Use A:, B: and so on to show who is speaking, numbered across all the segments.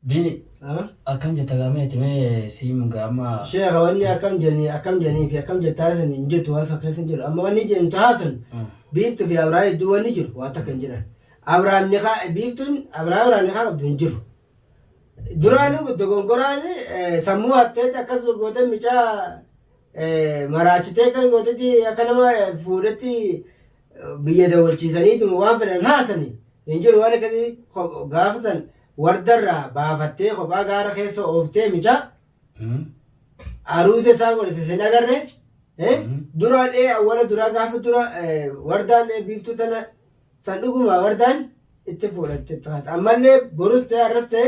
A: Bini Ah, akkam jetta gaamee itti mee siim gaama. Sheekha wanni akkam
B: jedhanii akkam jedhanii fi akkam jettaa san hin jettu waan san keessa hin jiru. Amma wanni jedhu tahaa sun biiftuu fi Abrahaam hedduu wanni jiru waan takka hin jiran. Abrahaam nikaa biiftuun Abrahaam irraa nikaa qabdu hin jiru. Duraanuu dogongoraan eh, sammuu hatteeti akkas gootee micaa eh, maraachitee akkas gooteeti akka nama eh, fuudhetti biyya dawalchiisaniituma waan fedhan haasani hin jiru waan akkasii ko- gaafa san wardarraa baafattee kophaa gaara keessa ooftee michaa Mm. aruuza isaa godhise sin agarre eh? Mhm. duraa dhee awwala duraa gaafa dura eh, wardaan eh, biiftuu tana san dhuguma wardaan itti fuudhatte taate ammallee borus ta'e arras ta'e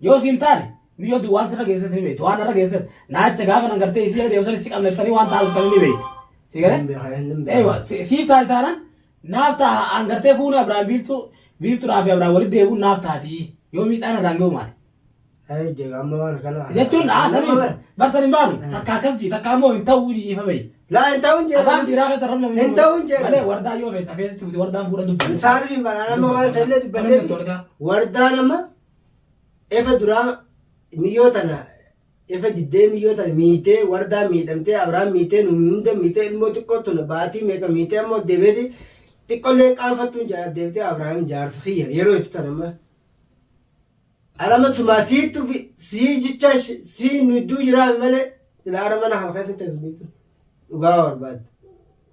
C: Yoo siin taane miyyoo duwwaan sirra geesses ni beektu. Waan narra geesses naacha gaafa nan gartee isii irra deemsan si qabna jettanii waan taa'u jettanii ni beektu. Si galee? Eeywa siif taati taanan naaf ta'a aan gartee fuuni Abiraan biiftuu biiftuudhaa fi Abiraan walitti deebi'uun naaf taati yoo miidhaan irraan ga'u maati. Jechuun haasanii barsan hin baanu takka akkas jii takka ammoo hin ta'uu jii ifa bayi. Laa hin ta'uun jee.
B: Afaan dhiiraa keessa rabna Hin
C: ta'uun jee. Malee
B: wardaa yoo feete
C: afeesitti fuute wardaan fuudhan dubbanne. Isaaniif hin banaan amma
B: waan sallee dubbannee Wardaa nama Efa duraa miyyoo tana efa diddee miyyoo tana miitee wardaa miidhamtee abraan miitee nu hunda miitee ilmoo xiqqoo tuna baatii meeqa miitee ammoo deebi'eeti xiqqolleen qaanfattuun jaa- deebitee abraan jaarsa kiyya yeroo itti tana amma alama sumaa siittu fi sii jichaa shi- sii nu idduu jiraa malee silaa ara mana kana keessatti as miitu dhugaa barbaadda.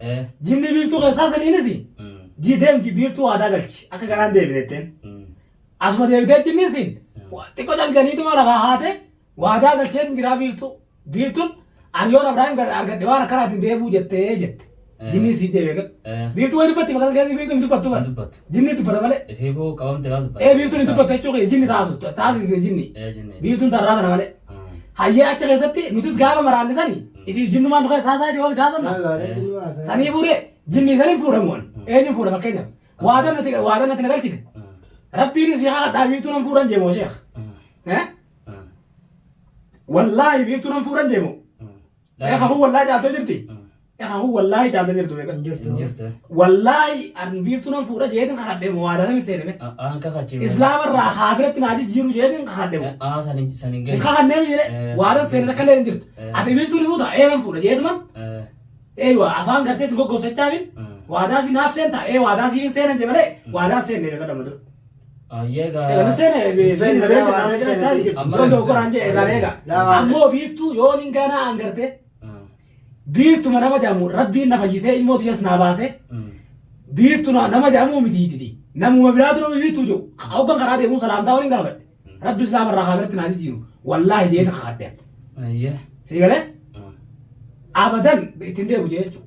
C: Eh. Jinni biiftuu keessaa saniinis Mm. ji deemti biiftuu waadaa galchi akka garaan deebiteetteen. Mm. Asuma deebitee jinniin siin xiqqoo dalganiituma lafaa haate waadaa galchee hin jiraa biiftuu. Biiftuun ariyoon Abiraahim gad argadhe waan akkanaatiin deebuu jettee jette. Eh. Jinniin siin deebi'e. Eh. Biiftuu wayi dubbatti maqaa keessi biiftuu hin dubbattu Hin bara. dubbattu. Jinni dubbata malee. Ifiifuu qabamte waan dubbata.
A: Ee biiftuun hin dubbattu jechuu kee
C: jinni taasu taasise jinni. Ee jinni. Biiftuun tarraa tana malee. Hayyee achi keessatti nutis gaafa maraanne sani ifiif jinnumaan nu keessa haasaa jedhu wal gaasonna. Sanii fuudhee jinni saniin fuudhamu ani. Eenyuun fuudha fakkeenyaaf. Waadan natti waadan natti na galchite. Rabbiin si haa kadhaa biiftuu nan fuudhan jeemoo sheekh. Eh? Wallaahi biiftuu nan fuudhan jeemoo. Eeka kun wallaahi caaltoo jirti. Eeka kun wallaahi caaltoo jirtu beekan. Hin jirtu. Hin jirtu. Wallaahi an biiftuu nan fuudha jeetin kakadhee moo waadaan hin seename. Aan kakachiifne. Islaama
A: irraa kaafiratti
C: naa jijjiiru jeetin kakadhee moo. Aan san hin san hin Hin geenye. kakannee
A: miti jedhee Eh, waadaan
C: seenan seenan. akka illee hin jirtu. Eh. Ati biiftuu ni fuuta ee nan fuudha jeetuman Eh, ee waa afaan gartee si goggosachaa min eh. waadaa si naaf seentaa ee waadaa siif hin seenan jee malee waadaa seennee beekan amma dura. Egaa Museen
A: Museen Museen
C: Museen waan Museen taate jedhe. Amma soddoo Museen. qoraan jedhe irraan eega. Laa waan Ammoo biiftuu yoo nin gaanaa aan gartee biiftuma nama jedhamu rabbiin na fayyisee ilmoo tiyas naa baasee biiftu na- nama jedhamu miti didi. Namuma biraatu nama biiftuu jiru. Hoggan karaa deemuu salaamtaa waliin gaafadhe. Rabbi islaama irraa haabiratti naa jijjiiru. Wallaahi jeen kakadhe. Sii galee abadan ittiin deemu jee jechuudha.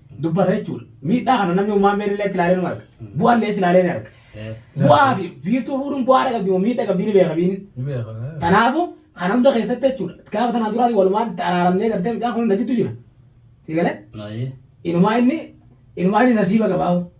C: dubbata jechuudha. Miidhaa kana namni uumaa meerri illee ilaalee nu arga. Bu'aa illee ilaalee ni arga. Bu'aa fi biiftuu fuudhuun bu'aa dha qabdi moo miidhaa qabdi ni beeka biini. Kanaafuu kana hunda keessatti jechuudha. Gaafa tanaan duraatii walumaan itti araaramnee gartee mucaan kun na jiddu jira. Sigalee? Inumaa inni inumaa inni nasiiba qabaahu.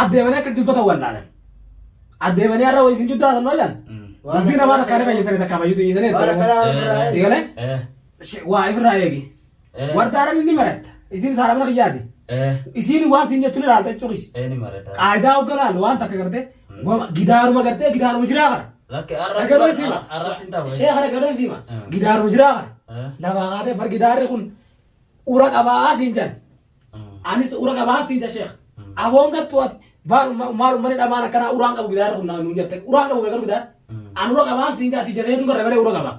C: addeemanii akka dubbatan wallaalan. Addeemanii har'a wayii isin jidduu haasa'an maal jedhan? Dubbii namaa takkaa ni fayyisanii takkaa fayyisuu dhiisanii jechuudha. Waan akkanaa irraa Si galee? Eh, Shi- Waa ifirraa eegi. eh, Warda arabni ni maratta. Isiin isaa arabna kiyyaati. eh, Isiin waan siin jettu ni laalta jechuudha. eh, ni marata. Qaayidaa
A: hogganaan waan
C: takka gartee wama- gidaaruma gartee gidaaruma jiraa kana. Lakki arratti Dhagadoon
A: bar- siima.
C: arratti hin ta'u. Sheekha dhagadoon siima. Mm. Gidaaruma jiraa kana. Eh. Lafaa kaatee bar gidaarri kun ura qabaa siin jedhan. Anis ura qabaan siin jedha sheekh. Aboon gattu ati maal maal ummani dhamaan akkanaa uraan qabu gidaara kun naan nuun jette uraan qabu beekaru gidaara. An ura qabaan siin jedha ati jateetu barre malee ura qaba.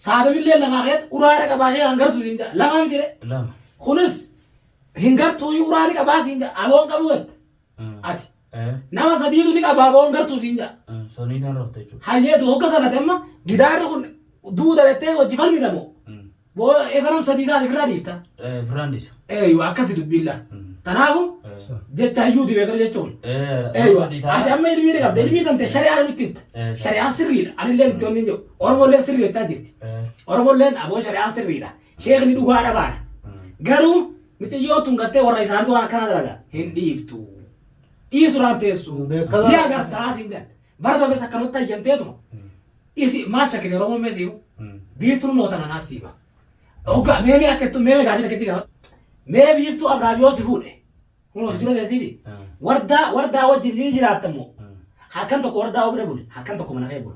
C: Saadamillee lamaa keet uraadha qabaa sheekh hangartu siin jedha lamaa miti jedhe. Lama. Kunis hin gartuu uraa ni qabaa siin jedha aboon qabu jette. Ati. Eh, Nama sadiitu ni qabaa boon gartuu siin jaa. eh, sonii tan rafte
A: jechuudha. Hayyeetu hogga sanati amma
C: gidaarri kun duuda jettee wajji falmita moo. Mm. Boo efa nam sadii taate firraa dhiifta. Eh, firaan dhiisa.
A: Eeyyuu akkasi
C: dubbiilla. Mm. Tanaafu Eh, jecha hayyuuti beekar jechuun. eh, nama Eeyyuu sadii ta'a. ati amma ilmii ni qabda ilmii tante shari'aan nutti himta. Eh, Shari'aan sirriidha. Anillee nutti onni hin jiru. Oromolleen sirrii jechaa jirti. Eh, Oromolleen aboo shari'aan sirriidha. Sheekni dhugaa dhabaadha. Garuu miciyyoon tun gartee warra isaaniitu waan akkanaa dalaga hin dhiiftu. Dhiisuudhaan teessu. Beekamaa. Ni agartaa siin jedhan. Bara darbes akkanumatti hayyamteetuma. Isi maal shakkite Oromoon mee siimu? Biiftuun moota nanaa siima. Hoggaa mee mee akka ittu mee mee gaafii takka itti gaafa. Mee biiftuu Abrahaam yoo si fuudhe. Kunoo si dura teessiiti. Wardaa wardaa wajjin ni jiraatta immoo. Halkan tokko wardaa obira bule. Halkan tokko mana kee bula.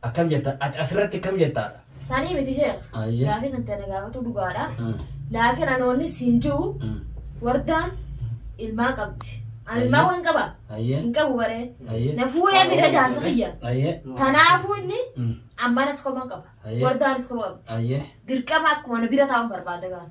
A: Akkam jetta? Ati asirratti akkam jetta? Sanii miti sheekh.
D: Ayyee. Gaafii kan ta'e na
A: gaafatu
D: dhugaadha. Mm. Laakiin ani wanni siin jiru Mm. wardaan ilmaa qabdi. Ani ilmaa Ayyee. waan qaba. Ayyee. Hin qabu baree. Ayyee. Na fuudhee
A: bira jaarsa
D: kiyya. Ayyee. Kanaafuu
A: inni
D: Mm. ammanas kophaa qaba. Ayyee. Wardaanis kophaa qabdi. Ayyee. Dirqama
A: akkuma na
D: bira taa'uun barbaada gaana.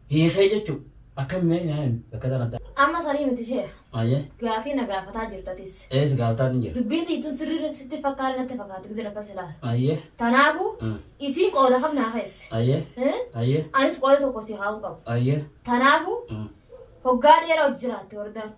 A: Hiikee jechuun akkam mee naa himi bakka tan adda. Amma sanii miti sheekh.
D: Ayyee. Gaafii na
A: gaafataa
D: jirtatis. Ee si gaafataatiin jira.
A: Dubbiin tiitun sirrii
D: sitti fakkaata natti fakkaata gizee lafa silaa. Ayyee. Tanaafu
A: Mm.
D: isiin qooda kam naa keesse. Ayyee. Eh? Ayyee.
A: Anis qooda tokko si
D: kaa'uun qabu. Ayyee. Tanaafu
A: Mm.
D: hoggaa dheeraa hojii jiraatte wardaan.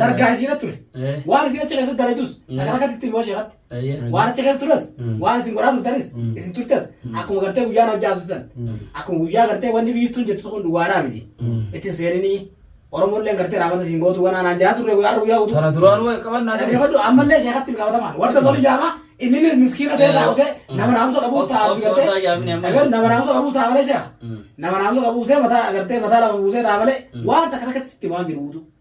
C: dargaa isiina ture waan isin achi keessatti dalaydus takka takkatti itti himuu sheekatti waan achi keessa
A: tures
C: waan isin godhaa turtanis isin turtes akkuma gartee guyyaan hojjaa turtan akkuma guyyaa gartee wanni biiftuun jettu kun dhugaadhaa miti ittiin seeninii Oromolleen gartee raamata isin gootu waan aanaan jaa turre guyyaa guyyaa guutuu. Kana duraan wal qabannaa ta'e.
A: Dhaggeeffadhu ammallee sheekatti
C: qabatamaan warra toli jaama inni ni miskiina ta'e taa'use nama naamusa qabu taa'u gartee dhagar nama naamusa qabu taa'u malee sheeka nama naamusa qabu buusee mataa gartee mataa lama buusee taa'u malee waan takka takkatti sitti waan jiru guutuu.